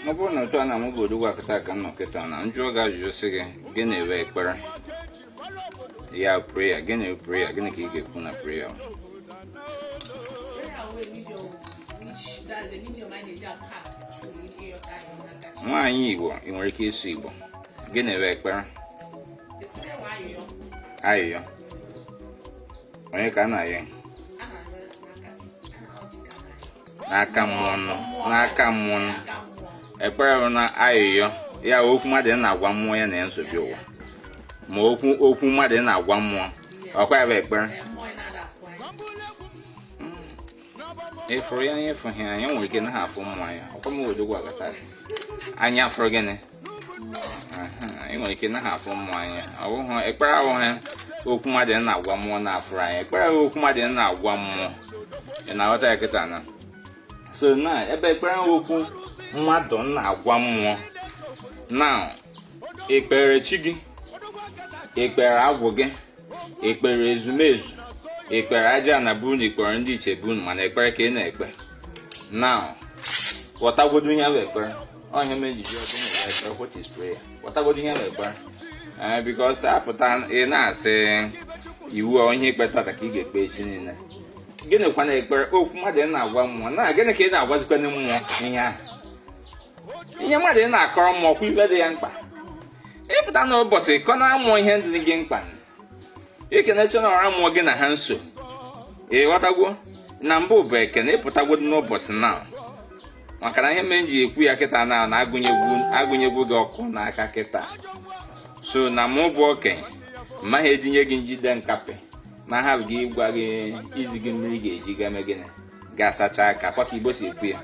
ọ bụrụ na otu a na mụbodo gwakọta ka a nọ kịta na m jụọ gị ajụjụ sị gị gịnị wụ ekpere ya prayer gịnị prayer gịnị ka ị ga-ekwu na prayer nwaanyị igbo ị nwere ike ịsụ igbo gịnị wụ ekpere ayịyọ onye ka a na-ayọ n'aka mmụọ nọ n'aka mmụọ nọ ekpere bụ na ayịyọ ya okwu mmadụ na-agwa mmụọ ya na ya nso bịa ụwa ma okwu okwu mmadụ na-agwa mmụọ ọkwa ya bụ ekpere ị fụrụ ya anya ị fụghị anya nwere ike na-afụ mmụọ anya ọkwa m wedogwu agata anya afụrụ gịnị ị nwere ike naghị afụ mmụọ anya ọ bụghị ekpere abụghị okwu mmadụ na-agwa mmụọ na-afụrụ anya ekpere wụ okwu mmadụ na-agwa mmụọ ị na-aghọta ya kịta na so na ebe ekpere wụ okwu mmadụ na-agwa mmụọ na i kpere chi gị i kpere agwụ gị i kpere ezumezu i kpere aja ana be unu na i kpere ndị ichie be unu mana ekpere ka ị na-ekpe na ghọtagodo ihe bụ ekpere ọ ya me m ji ọdụ na-ekpere what is prayer ghọtagodo ihe na-ekpere ee because a pụta ị na-asị iwu a onye ikpe tata ka ị ga-ekpe echi niile gịnị kwa na-ekpere okwu mmadụ na-agwa mmụọ na gịnị ka ị na-agwazikwanụ mmụọ ihe ahụ ihe mmadụ na-akọrọ mmụọ ọ kwa ife dị ya mkpa ị pụta n'ụbọchị kọọrọ mmụọ ihe dị gị mkpa i kenecha na ọra mmụọ gị na ha nso ị ghọtagwo na mbụ bụ ekene ị pụtagodo n'ụbọchị na maka na ihe m ji ekwu ya kịta na na a gụnyegwo gị ọkụ n'aka kịta so na mụ bụ okenye m maghị edunye gị njide nkapị ma ha gị ịgwa gị izi gị mmiri ị ga-eji ga-eme gịnị ga-asacha aka ọ kwa ka igbo si ekwu ya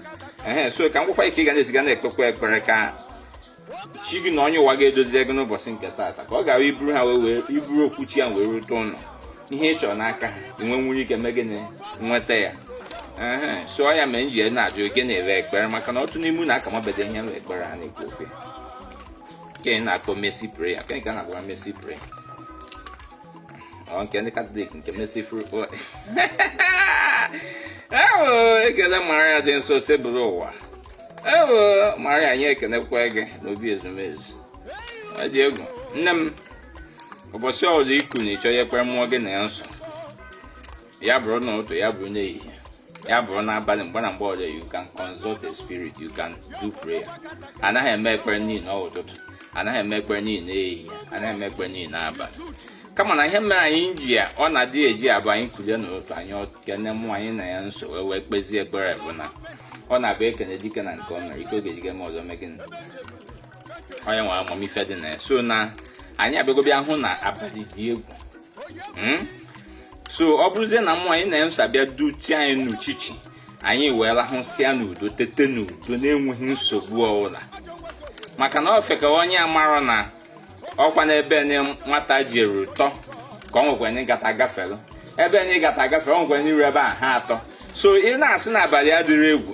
ehe so ka m gwakwa gị ka ị ga na-esi ga na-ekpekwa ekpere ka chi gị na onye ụwa ga-edozie gị n'ụbọchị nke taata ka ọ gara i buru ha wee i buru okwu chi ya wee rute ụlọ ihe ị chọrọ n'aka ha i nwe nwere ike mee gịnị nweta ya so ọ ya me m ji na-ajụ gịnị wụ ekpere maka na otu n'ime unu aka amabeghị ihe wụ ekpere a na-ekwu okwu nke a na-akpọ mercy prayer nke nke a na-akpọ mercy prayer Ọ nke ndị Katọlik nke Mercy Prayer bụ. Ewo ekele Maria dị nsọ si bụrụ ụwa. Ewo Maria anyị ekenekwa gị n'obi ezumezu. Ọ dị egwu. Nne m, ụbọchị ọbụla i kunie ị chọọ ya ekwe mmụọ gị na ya nso. ya bụrụ n'ụtụtụ ya bụrụ n'ehihie ya bụrụ n'abalị mgbe na mgbe ọzọ you can consult the spirit you can do prayer anaghị eme ekpere niile n'ụtụtụ anaghị eme ekpere niile n'ehihie anaghị eme ekpere niile n'abalị kama na ihe mere anyị ji ya ọ na-adị eji abụ anyị kulie n'ụtụtụ anyị kene mmụọ anyị na ya so wee wee kpezie ekpere bụ na ọ na-abụ ekene dike na nke o mere ike oge dike ma ọzọ megịnị onye nwere amamife dị na ya so na anyị abịago bịa hụ na abalị dị egwu hmm? so ọ bụrụzie na mmụọ anyị na ya so bịa duchie anyị n'uchichi anyị wee rahụsịa n'udo tete n'udo na-enweghị nsogbu ọbụla maka na ofeke onye amarọ na ọkwa n'ebe nwata jeru tọ ka o nwekwa ndị gata gafere ebe ndị gata gafere o nwekwa ndị ru ebe a ha atọ so ị na-asị na abalị adịrọ egwu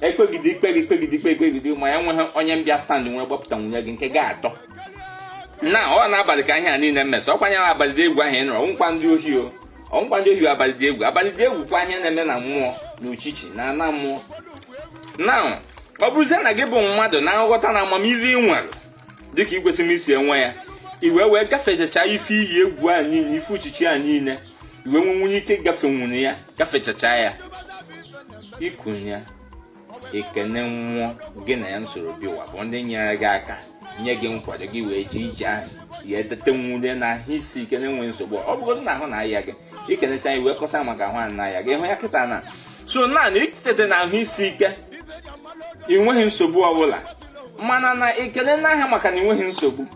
ekpegide ikpegide ikpegide ikpegide ma ya nweghị onye bịa stand wee gbapụta nwunye gị nke ga-atọ na ọ n'abalị ka ihe a niile na-eme ọ kwanyere abalị dị egwu ahụ ị nụrụ ọ wụkwa ndị ohi o ọ wụkwa ndị ohi abalị dị egwu abalị dị egwu kwa ihe na-eme na mmụọ na uchichi na ana mmụọ na ọ bụrụzie na gị bụ mmadụ na-aghọta na amamihe ị nwere dịka i kwesịrị isi enwe ya i wee wee gafechacha ife iyi egwu a niile ife uchichi a niile i wee wee were ike gafe were ya gafechacha ya i kunie i kene mmụọ gị na ya soro bịa ụwa bụ ndị nyere gị aka nye gị nkwado gị wee ji ije ahụ ya etete were na ahụ isi ike na-enweghị nsogbu ọ bụrụ na ahụ na-aya gị i kenecha anyị wee kọsa maka ahụ a na-aya gị ị hụ ya kịta na so naanị i tete na ahụ isi ike i nweghị nsogbu ọbụla mana na i kene ha maka na i nweghị nsogbu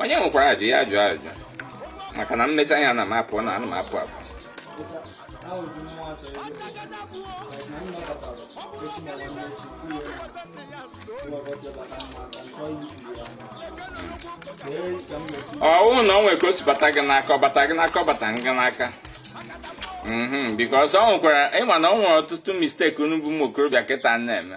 onye nwekwara ajụjụ ya ajụọ ajụjụ maka na m mechaa ya na m apụ na anụ m apụ apụ ọ wụ na o nwere ka o si bata gị n'aka ọ bata gị n'aka ọ bata gị n'aka mhm, because o nwekwara ị ma na o nwere ọtụtụ mistake unu bụ ụmụ okorobịa kịta na-eme